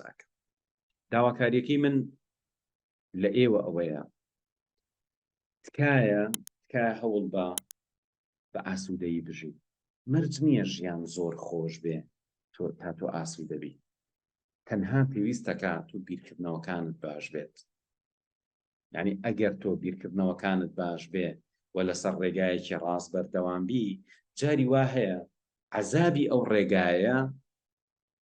ئەکەم. داواکاریەکەی من لە ئێوە ئەوەیە تکایە تکایە هەوڵ بە بە ئاسوودەیی بژی مەرج نییە ژیان زۆر خۆش بێ تۆ تا تۆ ئاسوو دەبی تەنها پێویستەکە تو بیرکردنەوەکانت باش بێت یعنی ئەگەر تۆ بیرکردنەوەکانت باش بێ و لەسەر ڕێگایەکی ڕاست بەردەوام بی جاری وا هەیە عذابی ئەو ڕێگایە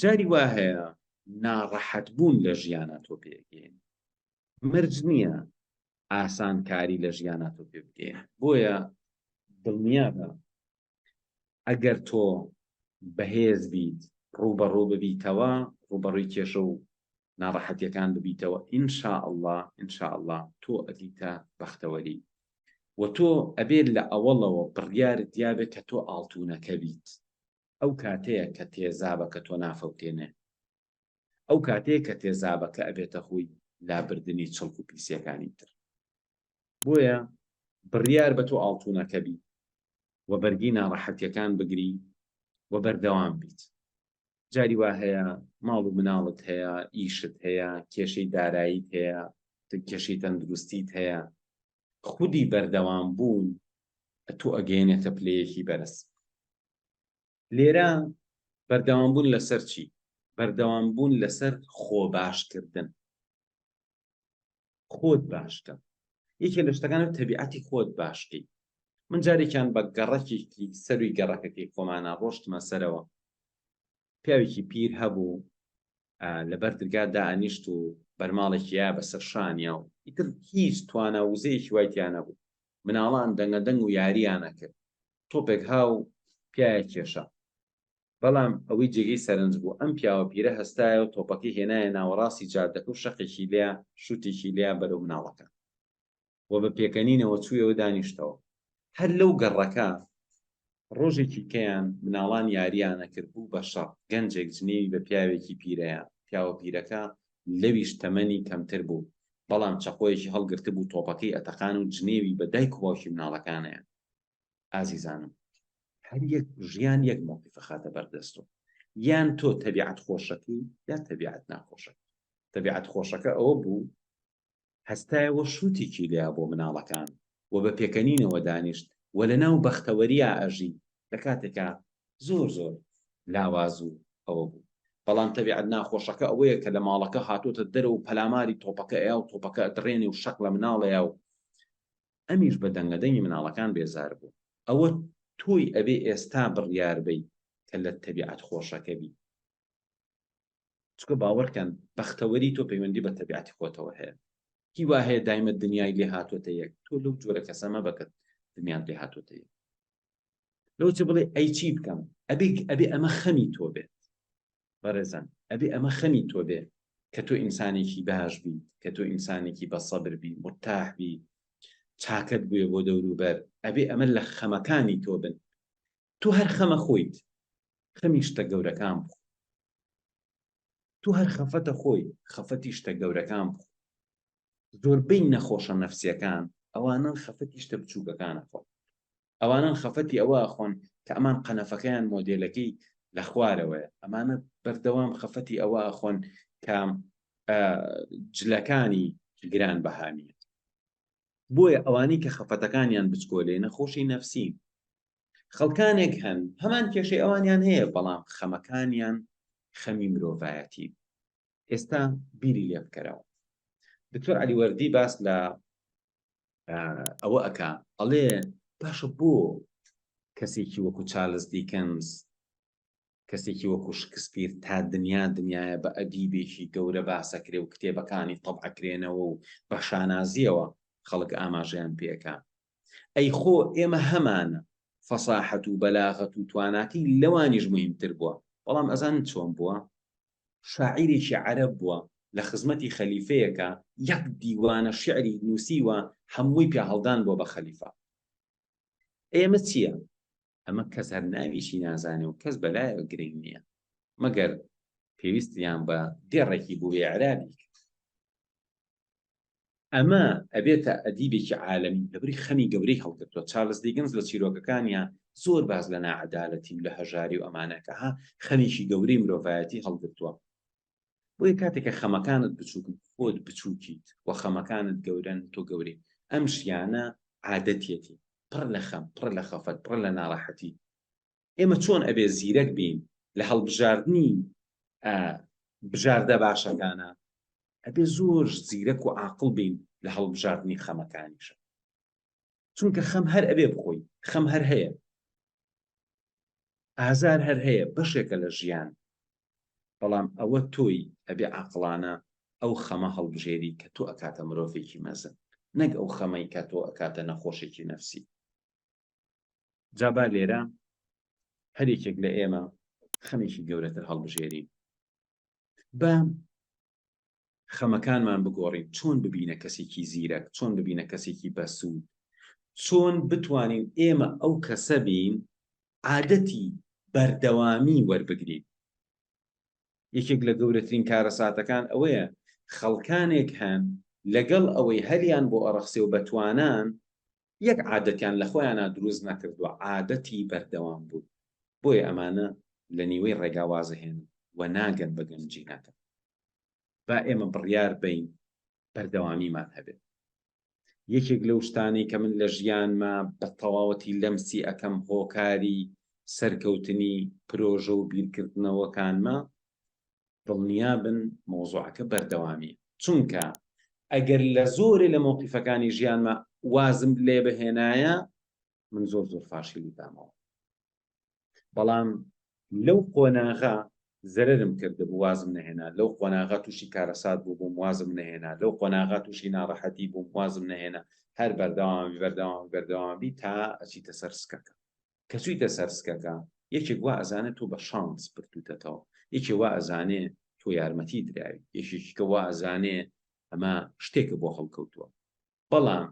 جاری وا هەیە ناڕەحەت بوون لە ژیانە تۆ پێگەین مرج نییە ئاسان کاری لە ژیانە تۆ پێ بگێ بۆیە دڵنیا بە ئەگەر تۆ بەهێز بیت ڕوبەڕوو ببیتەوە ڕوبەڕووی کێشە و ناڕەحەتیەکان ببیتەوە ئینشاء الله ئینشاء الله تۆ ئەدیتە بەختەوەری و تۆ ئەبێت لە ئەوەڵەوە بڕیار دیابێت کە تۆ ئاڵتونەکە بیت ئەو کاتەیە کە تێزابەکە تۆ نافەوتێنێ. ئەو کاتەیە کە تێزابەکە ئەبێتە هۆی لابردنی چڵک و پیسیەکانی تر. بۆیە بڕیار بە تۆ ئاڵتونەکە بی و بەرگی ناڕەحەتیەکان بگری و بەردەوام بیت. جاری وا هەیە ماڵ و مناڵت هەیە، ئیشت هەیە، کێشەی داراییت هەیە، کێشەی تەندروستیت هەیە. خودی بەردەوام بوون تۆ ئەگەیەنێتە پلەیەکی بەرز. لێرە بەردەوام بوون لەسەر چی؟ بەردەوام بوون لەسەر خۆ باشکردن. خۆت باشکە. یەکێ لە شتەکانە تەبیعەتی خۆت باشکی. من جارێکیان بە گەڕەکێکی سەروی گەڕەکەکەی خۆمانە ڕۆشتمە سەرەوە. پیاوێکی پیر هەبوو لەبەر درگا دانیشت و بەرماڵێکیە بەسەر شانیا و ئیتر هیچ توانا وزەیەکی وای تیانە بوو مناڵان دەنگە دەنگ و یاریانە کرد تۆپێک ها و پیایە کێشا. بەڵام ئەوەی جێگەی سەرنج بوو، ئەم پیاوە پیرە هەستایە و تۆپەکەی هێنایە ناوەڕاستی جادەکە و شەقێکی لێ شووتێکی لێ بەرەو مناڵەکە و بە پێکەنینەوە چوویەوە دانیشتەوە. هەر لەو گەڕەکە ڕۆژێکی کەیان مناڵان یارییان ئەکرد، بوو بە شەڕ، گەنجێک جنێوی بە پیاوێکی پیرەیا، پیاوە پیرەکە لەویش تەمەنی کەمتر بوو، بەڵام چەقۆیەکی هەڵگرتبوو تۆپەکەی ئەتەقان و جنێوی بە دایک و باوکی مناڵەکانەیا. ئازیزانم هەر یەک ژیان یەک مۆقیفە خاتە بەردەستۆ یان تۆ تەبیعەت خۆشەکەی یا تەبیعەت ناخۆشە تەبیعەت خۆشەکە ئەوە بوو هەستایەوە شووتێکی لیا بۆ مناڵەکان و بە پێکەنینەوە دانیشت و لە ناو بەختەوەریا ئەژی لە کاتێکا زۆر زۆر لاواز و ئەوە بوو بەڵام تەبیعەت ناخۆشەکە ئەوەیە کە لە ماڵەکە هاتۆتە دەرە و پەلاماری تۆپەکە ئەیا و تۆپەکە دڕێنێ و شەق لە مناڵەیە و ئەمیش بە دەنگە دەنگی مناڵەکان بێزار بوو. ئەوە تۆی ئەبێ ئێستا بڕیار بەی کە لە تەبیعەت خۆشەکە بی. چونکە باوەڕکەن بەختەوەری تۆ پەیوەندی بە تەبیعەتی خۆتەوە هەیە. کی وا هەیە دایمە دنیای لێ هاتۆتە یەک؟ تۆ لەو جۆرە کەسە مەبە کە دنیات لێ هاتۆتە یەک. لەوچە بڵێ ئەی چی بکەم ئەبێ ئەبێ ئەمە خەمی تۆ بێت بەڕێزان ئەبێ ئەمە خەمی تۆ بێ کە تۆ ئینسانێکی باش بی کە تۆ ئینسانێکی بە سەبر بی مرتاح بی چاکەت بوێ بۆ دەوروبەر ئەبێ ئەمە لە خەمەکانی تۆ بن تۆ هەر خەمە خۆیت خەمی شتە گەورەکان بخۆ تۆ هەر خەفەتە خۆی خەفەتی شتە گەورەکان بخۆ زۆربەی نەخۆشە نەفسیەکان ئەوانەن خەفەتی شتە بچوکەکان ئەخۆن ئەوانەن خەفەتی ئەوە ئەخۆن کە ئەمان قەنەفەکەیان مۆدێلەکەی لە خوارەوەیە ئەمانە بەردەوام خەفەتی ئەوە ئەخۆن کە جلەکانی گران بەهانیە بۆیە ئەوانی کە خەفەتەکانیان بچکۆلێ نەخۆشی نەفسی خەڵکانێک هەن هەمان کێشەی ئەوانیان هەیە بەڵام خەمەکانیان خەمی مرۆڤایەتی ئێستا بیری لێ بکەرەوە دکتۆر علی وەردی باس لە ئەوە ئەک ئەڵێ باشە بۆ کەسێکی وەکو چارلز دیکەنز کەسێکی وەکو شکسپیر تا دنیا دنیاە بە ئەدیبێکی گەورە باسەکرێ و کتێبەکانی تەبعکرێنەوە و بە شانازیەوە خەڵک ئاماژەیان پێەکە ئەی خۆ ئێمە هەمانە فەساحەت و بەلاغەت و تواناتی لەوانیش مهمتر بووە بەڵام ئەزان چۆن بووە شاعیرێکی عەرەب بووە لە خزمەتی خەلیفەیەکە یەک دیوانە شیعری نووسیوە هەمووی پیاهەڵدان بووە بە خەلیفە ئێمە چییە؟ ئەمە کەس هەر ناویشی نازانێ و کەس بەلایەوە گرنگ نییە مەگەر پێویستیان بە دێڕێکی بووێ عرابی ئەمە ئەبێتە ئەدیبێکی عالەمی لەبری خەمی گەورەی هەڵگرتووە چارلس دیگنز لە چیرۆکەکانیا زۆر باس لە ناعەدالەتی و لە هەژاری و ئەمانەکە ها خەمیکی گەورەی مرۆڤایەتی هەڵگرتووە بۆیە کاتێک کە خەمەکانت بچووکن خۆت بچووکیت و خەمەکانت گەورەن تۆ گەورەی ئەم ژیانە عادەتیەتی پڕ لە خەم پڕ لە خەفەت پڕ لە ناڕەحەتی ئێمە چۆن ئەبێ زیرەک بین لە هەڵبژاردنی بژاردە باشەکانە ئەبێ زۆر زیرەک و عاقڵ بین لە هەڵبژاردنی خەمەکانیشە چونکە خەم هەر ئەبێ بخۆی خەم هەر هەیە ئازار هەر هەیە بەشێکە لە ژیان بەڵام ئەوە تۆی ئەبێ عقلانە ئەو خەمە هەڵبژێری کە تۆ ئەکاتە مرۆڤێکی مەزن نەک ئەو خەمەی کە تۆ ئەکاتە نەخۆشێکی نەفسی جا با لێرە هەر یەکێک لە ئێمە خەمێکی گەورەتر هەڵبژێرین با خەمەکانمان بگۆڕین چۆن ببینە کەسێکی زیرەک چۆن ببینە کەسێکی بەسوود چۆن بتوانین ئێمە ئەو کەسە بین عادەتی بەردەوامی وەربگرین یەکێک لە گەورەترین کارە ساتەکان ئەوەیە خەڵکانێک هەن لەگەڵ ئەوەی هەریان بۆ ئەڕەخسێ و بەتوانان یەک عادەتیان لە خۆیانا دروست نەکردوە عادەتی بەردەوام بوون بۆیە ئەمانە لە نیوەی ڕێگا وازهێن و ناگەن بە گەنجی نەکە با ئێمە بڕیار بین بەردەوامیمان هەبێت یەکێک لەو شتانەی کە من لە ژیانمە بە تەواوەتی لەمسی ئەەکەم هۆکاری سەرکەوتنی پرۆژە و بیرکردنەوەکانمە دڵنیابن مەوزوعەکە بەردەوامیە چونکە ئەگەر لە زۆرێ لە مەوقیفەکانی ژیانما وازم لێ بهێنایە من زۆر زۆر فاشیلی بامەوە بەڵام لەو قۆناغا زەرم کرد بوو وازم نهێنا لەو قۆناغا تووشی کارەسات بوو بووم وازم نهێنا لەو قۆناغا تووشی ناڕەحەتی بووم وازم نهێنا هەر بەردەوامی بەردەوام بەردەوامی تا ئەچیتە سەر سکەکە کە چویتە سەر سکەکە یەکێک وا ئەزانێ تۆ بە شانس بردوتەتەوە یەکێ وا ئەزانێ تۆ یارمەتی دراوی یەکێکیکە وا ئەزانێ ئەمە شتێکە بۆ هەڵکەوتووە بەڵام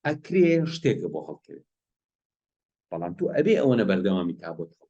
ئەکرێ شتێکە بۆ هەڵکەوێت بەڵام تۆ ئەبێ ئەوەنە بەردەوامی تا بۆت هەڵ